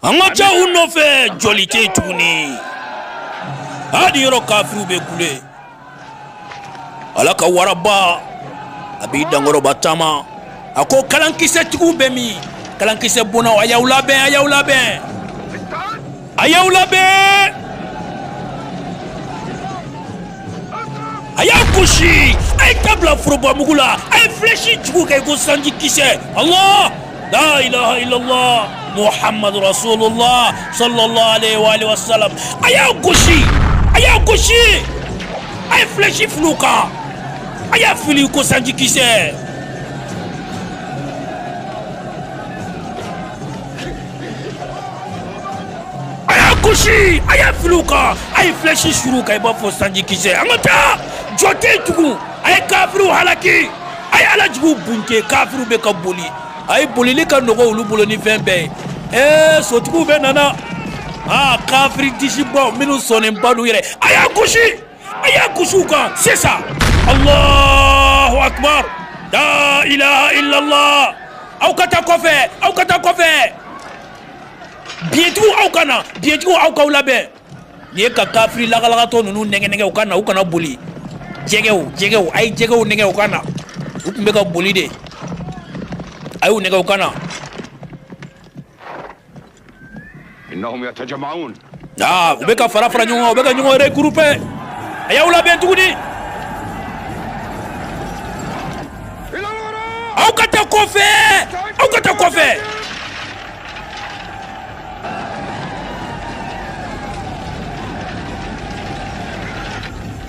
an ka ca u nɔfɛ jɔli tɛ tuguni hali yɔrɔ kafiriw bɛ kule ala ka waraba a b'i dankɔrɔba taama a ko kalankisɛtigiw bɛ min kalankisɛ bonnaw a y'aw labɛn a y'aw labɛn a y'aw labɛn a y'a gosi a ye ta bila forobamugu la a ye filɛsi jugu kɛ ko sanji kisɛ ala la ilaha illallah muhammadu rasulullah sallallahu alaihi wa alihi wa sallam a y'a gosi a y'a gosi a ye filɛsi fili u kan a y'a fili ko sanji kisɛ a y'a gosi a y'a fili u kan a ye flèche suru u kan i b'a fɔ sanji kisɛ an ka taa jɔ tɛ yen tugun a ye kafiriw halaki a ye ala juguw bunte kafiriw bɛ ka boli a ye bolili ka nɔgɔ olu bolo ni fɛn bɛɛ ye ɛɛ sotigiw bɛɛ nana aa kafiri disibaw minnu sɔnnenba don yɛrɛ a y'a gosi a y'a gosi u kan sisan Alahu akibar laa ilaha ilala aw ka taa kɔfɛ aw ka taa kɔfɛ biyɛntigiw aw ka na biyɛntigiw aw k'aw labɛn nin ye ka kafiri lagalagatɔ ninnu nɛgɛnɛgɛ u ka na u kana boli jɛgɛw jɛgɛw a ye jɛgɛw nɛgɛ u ka na u tun bɛ ka boli de a y'u nɛgɛ u ka na aa u bɛ ka fara fara ɲɔgɔn kan u bɛ ka ɲɔgɔn regrouper a y'aw labɛn tuguni aw ka taa kɔfɛ aw ka taa kɔfɛ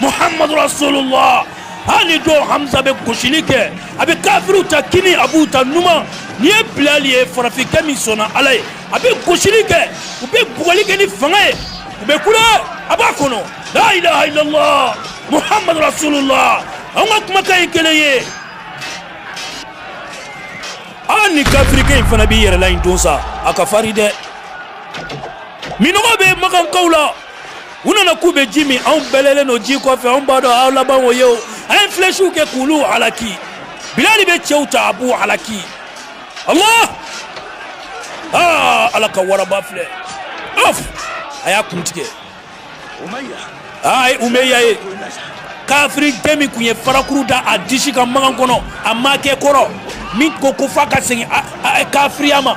Muhamadu rasulula hali don Hamza bɛ gosili kɛ a bɛ kafiriw ta kinin a b'u ta numan ni ye bilali ye farafinkɛ min sɔnna ala ye a bɛ gosili kɛ u bɛ bugɔli kɛ ni fanga ye u bɛ kule a b'a kɔnɔ lailaha ilala muhamadu rasulula an ka kumakan ye kelen ye ani kafirikɛ in fana b'i yɛrɛla in don sa a ka farin dɛ minnɔgɔ bɛ makankaw la u nana k'u bɛ ji min anw bɛlɛnnen don ji kɔfɛ anw b'a dɔn aw laban o ye o a ye filɛsiw kɛ k'olu halaki bilali bɛ cɛw ta a b'u halaki allah aa ala ka waraba filɛ ɔf a y'a kun tigɛ aa ye umeya ye kafiri den min tun ye farakuru da a disi kan Makan kɔnɔ a makɛkɔrɔ min ko ko f'a ka segin kafiriya ma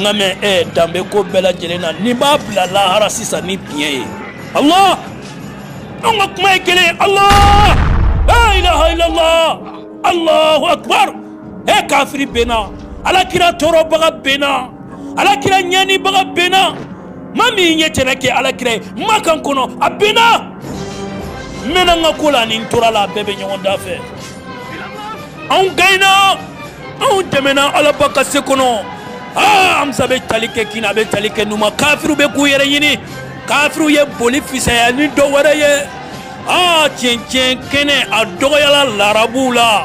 nka mɛ ɛ eh, danbe ko bɛɛ lajɛlen na n'i b'a bila lahara sisan ni biɲɛ ye allah anw ka kuma ye kelen allah la ilaha illallah allahu akbar e kafiri benna ala kira tɔɔrɔbaga benna ala kira ɲanibaga benna ma min ye tɛnɛ kɛ ala kira ye makan kɔnɔ a benna n mɛnna n ka ko la ani n tora la a bɛɛ bɛ ɲɔgɔn da fɛ anw gaɲena anw dɛmɛna alaba ka se kɔnɔ hamza bɛ tali kɛ kinin a bɛ tali kɛ numan kafiriw bɛ k'u yɛrɛ ɲini kafiriw ye boli fisaya ni dɔ wɛrɛ ye aa cɛncɛn kɛnɛ a dɔgɔyala larabuw la